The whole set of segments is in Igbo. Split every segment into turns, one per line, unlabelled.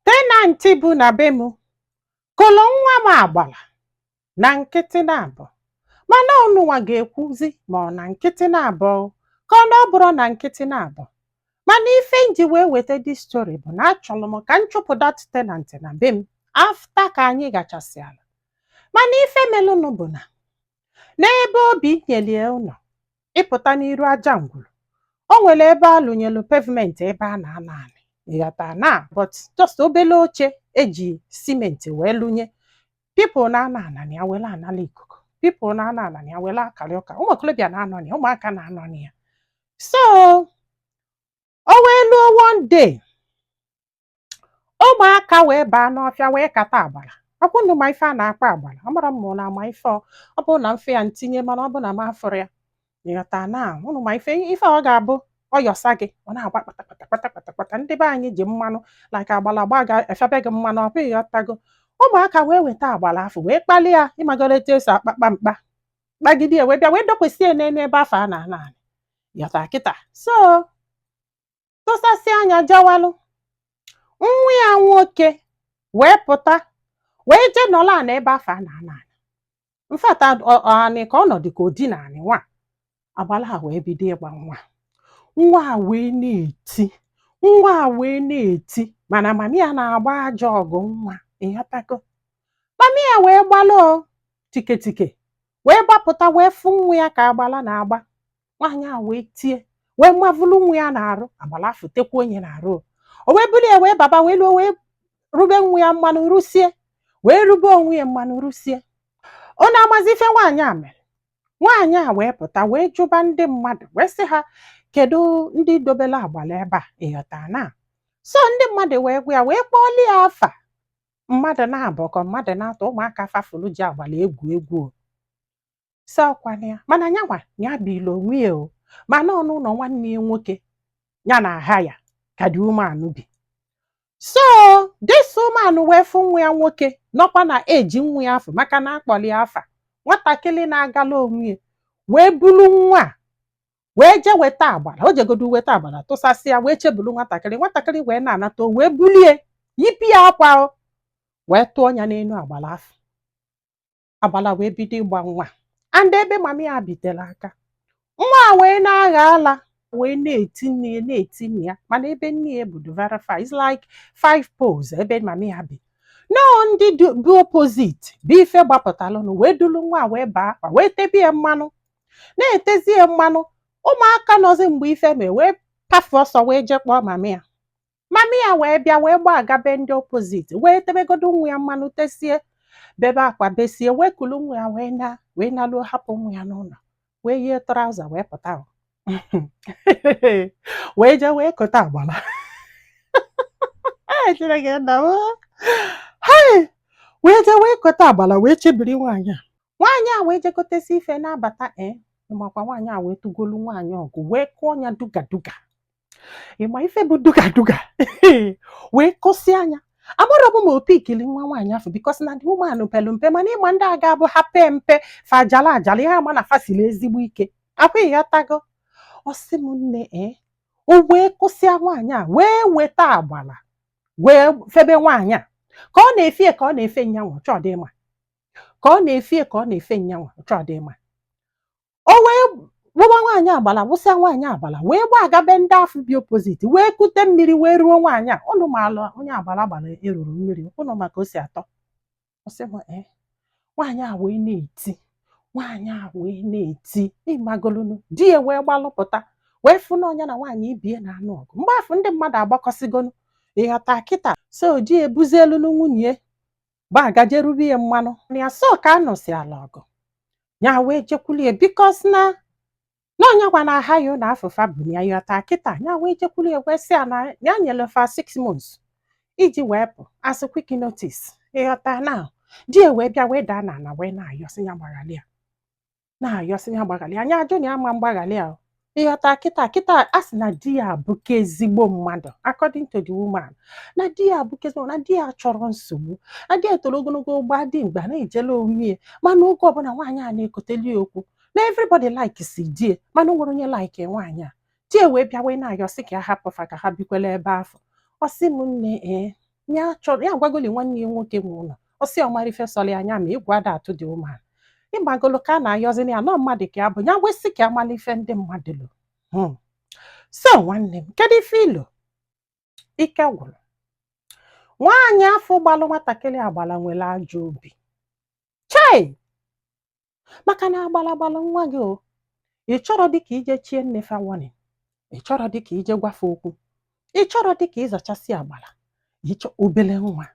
tenantị bi na be m kụlụ nwa m agbala na nkịtị na-abọ mana ụnụnwa ga-ekwuzi ma ọ na nkịtị na-abọ ka ọ na ọ bụrụ na nkịtị na-abọ mana ife m ji wee weta dis story bụ na achọlụ m ka m chụpụ dat tenantị na be m afta ka anyị ghachasị ala mana ife melụnụ bụ na N'ebe o bi nyelie ụlọ ịpụta n'iru aja ngwuru, o nwere ebe a lụnyelu pavement ebe a na-anọ anị ịghọta na but just obele oche e ji simenti wee lụnye pipụl na-anọ ana na ya welu anala ikuku pipụl na-anọ ana na ya welu akalị ụka ụmụ okolobịa na-anọ na ya ụmụaka na-anọ na ya so o wee luo one day ụmụaka wee baa n'ọfịa wee kata agbala ọkwa ụnụ ma ife a na-akpọ agbala amarọ m ma na ama ife ọ ọ bụrụ na m fụ ya m tinye mana ọ bụ na m afụrọ ya ịghọta na ụnụ ma ife ife ọ ga-abụ ọ yọsa gị ọ na-agba kpatakpata kpatakpata kpata ndị be anyị ji mmanụ like agbala gbaa gị e febe gị mmanụ ọkwa ịghọtago ụmụaka wee weta agbala afụ wee kpali ya ịmagoro etu e si akpakpa mkpa kpagide ya wee bịa wee dokwasị ya n'elu ebe afụ a na-anọ ana ịghọta kịta so tụsasị anya jawalụ nwa ya nwoke wee pụta wee jee nọla ana ebe afụ a na-anọ ana mfata anị ka ọ nọdụ ka o dina anị nwa agbala a wee bido ịgba nwa nwa a wee na-eti nwa a wee na-eti mana mami ya na-agba ajọ ọgụ nwa ịghọtago mami ya wee gbalụ tiketike wee gbapụta wee fụ nwa ya ka agbala na-agba nwaanyị a wee tie wee mavulu nwa ya n'arụ agbala afụ tekwa onwe ya n'arụ o wee bulu ya wee baba wee luo wee rube nwa ya mmanụ rusie wee rube onwe ya mmanụ rusie ụnụ amazi ife nwaanyị a mere nwaanyị a wee pụta wee jụba ndị mmadụ wee sị ha kedu ndị dobelu agbala ebe a ịghọta na so ndị mmadụ wee gwa ya wee kpọọlụ ya afa mmadụ naabọ ka mmadụ naatọ ụmụaka fa fụlụ ji agbala egwu egwu o si ọkwana ya mana nyanwa ya bilu onwe ya o mana ọnụ ụlọ nwanne ya nwoke ya na aha ya ka dị umeanụ bi so this woman wee fụ nwa ya nwoke nọkwa na eji nwa ya afụ maka na a kpọlụ ya afa nwatakịrị na-agalụ onwe ya wee bulu nwa a wee jee weta agbala o jegodu weta agbala tụsasịa wee chebulu nwatakịrị nwatakịrị wee na-anata o wee bulie yipụ ya akwa o wee tụọ ya n'elu agbala afụ agbala wee bido ịgba nwa and ebe mama ya bitere aka nwa a wee na-agha ala wee na-eti nne ya na-eti nne ya mana ebe nne ya bi dị very far is like five poles ebe mama ya bi nọọ ndị du- bi opposite bụ ife gbapụtalụnụ wee dulu nwa a wee baa akwa wee tebe ya mmanụ na-etezi ya mmanụ ụmụaka nọzi mgbe ife mere wee pafe ọsọ wee jee kpọọ mami ya mami ya wee bịa wee gbaga be ndị opposite wee tebegodo nwa ya mmanụ tesie bebe akwa besie wee kulu nwa ya wee na wee naluo hapụ nwa ya n'ụnọ wee yie trouser wee pụta ahụ. wee jee wee kota agbala Ee, Chineke nna m. Hai! wee jee wee kota agbala wee chebiri nwaanyị a nwaanyị a wee jekọtesi ife na-abata e eh, ị makwa nwaanyị a wee tụgolu nwaanyị ọgụ wee kụọ ya duga duga ị ma ife bụ duga duga wee kụsịa nya amarọ bụ ma opi ikili nwa nwaanyị afụ because na dị ụmụanụ pelu mpe mana ị ma ndị a ga-abụ ha pee mpe fa ajala ajala ihe ama na fa siri ezigbo ike ọkwa ị ghọtago ọ sị m nne e eh, o wee kụsịa nwaanyị a wee weta agbala wee febe nwaanyị a ka ọ na-efie ka ọ na-efe nyanwa chọdị ịma ka ọ na-efie ka ọ na-efe nyanwa ọ chọdị ịma o wee wụba nwaanyị agbala wụsịa nwaanyị agbala wee gbaga be ndị afụ bi opposite wee kute mmiri wee ruo nwaanyị a ụnụ maalụ onye agbala gbara eruru mmiri ụnụ ma ka o si atọ ọ sị m ee nwaanyị a wee na-eti nwaanyị a wee na-eti ị magolunu di ya wee gbalụpụta wee fụ na nwunye ya na nwaanyị ibe ya na-anụ ọgụ mgbe afụ ndị mmadụ agbakọsịgonu ị ghọta kịta so di ya ebuzielunu nwunye gbaga jee rube ya mmanụ ya so ka a nụsịrịla ọgụ ya wee jekwulie because na na ọ nyanwa na-aha ya ụnọ afụ fa bu ya ị ghọta kịta ya wee jekwulie wee sị ya na ya nyere fa six months iji wee pụ as quick notice ị ghọta na di ya wee bịa wee daa n'ana wee na-ayọ sị ya gbaghalị ya na-ayọsị ya gbaghalị ya nya ajụ na ya ama agbaghalị ya ị ghọta kịta kịta a sị na di ya abụka ezigbo mmadụ according to the woman na di ya abụka ezigbo na di ya achọrọ nsogbu na di ya toro ogologo gbaa dimkpa na-ejelu onwe ya mana oge ọbụla nwaanyị a na-ekoteli ya okwu na everybody likesi di ya mana o nwerọ onye like nwaanyị a di ya wee bịa wee na-ayọsị ka ya hapụ fa ka ha bikwela ebe afụ ọ sị m nne ee ya chọrọ ya gwagoli nwanne ya nwoke nwe ụlọ ọ sị ọ mara ife sọrọ ya anya ma egwu ada atụ dị umeala ị magolu ka a na-ayọzi na ya na ọ mmadụ ka ya bụ ya wee sị ka ya malụ ife ndị mmadụ lo hmm. so nwanne m kedu ife i lo ike gwụrụ nwaanyị afụ gbalụ nwatakịrị agbala nwere ajọ obi chei maka na a gbala agbala nwa gị o ị chọrọ dịka ije chie nne fa warning ị chọrọ dịka ije gwa fa okwu ị chọrọ dịka ịzachasị agbala ịchọ obele nwa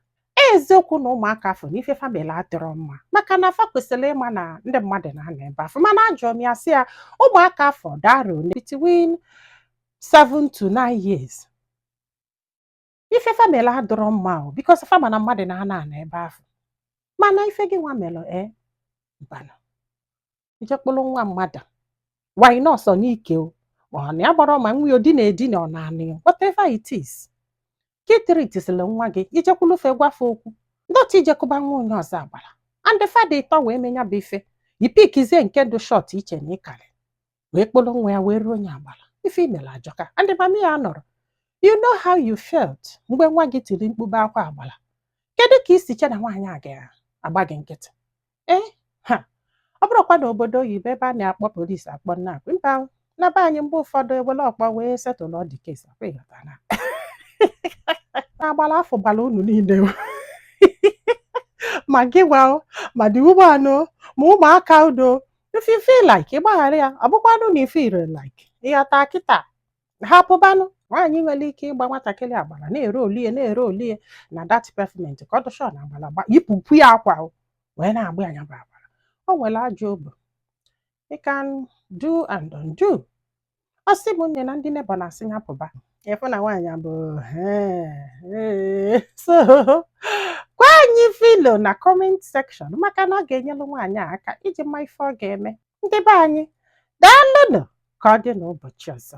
eziokwu na ụmụaka afụ na ife fa melu adịrọ mma maka na fa kwesịrị ịma na ndị mmadụ na-anọ ebe afụ mana ajụọ m ya sị ya ụmụaka afụ dị around between 7 to 9 years ife fa mere adịrọ mma o bikos fa ma na mmadụ na-ana ana ebe ahụ mana ife gị nwa mere e mbana ije kpụrụ nwa mmadụ why not ọ n'ike o ma ọ na ya gbara ma nwa ya o dina edina ọ na anị whatever it is ka itiritizila nwa gị i jekwulu fe gwa fe okwu not ije kụba nwa onye ọzọ agbara and fa dị ịtọ wee mee nya bụ ife i pikizie nke dị shọt i che na ị karị wee kpọrọ nwa ya wee ruo onye agbara ife i mere ajọka and mami ya nọrọ you know how you felt mgbe nwa gị tiri mkpu be akwa agbara kedu ka i si che na nwaanyị a ga-agba gị nkịtị ee ha ọ bụrụkwa na obodo oyibo ebe a na-akpọ polisi akpọ nna akpị mba o, na be anyị mgbe ụfọdụ e were ọkpọ wee setụlụ ụdị kesi a kwa ị ghọta na na agbara afụ gbara unu niile o. ma gị nwa o, ma dị ụgbọala o, ma ụmụaka udo if you feel like ịgbaghara ya ọ bụkwanụ na ife ire like ịghọta kịta hapụbanụ nwaanyị nwere ike ịgba nwatakịrị agbara na-erooli ya na-erooli ya na dat pefment ka ọ dị sure na agbara gba yipụpụ ya akwa wee na-agba ya nya bụ agbara o nwere ajọ obi you can do and undo ọ sị m nne na ndị nebọ na-asị ya pụba ịfụ na nwaanyị a bụ "Ee, ee." so gwa anyị below na kọment sekshọn maka na ọ ga-enyelụ nwaanyị a aka iji ma ife ọ ga-eme ndị be anyị daalụnụ ka ọ dị n'ụbọchị ọzọ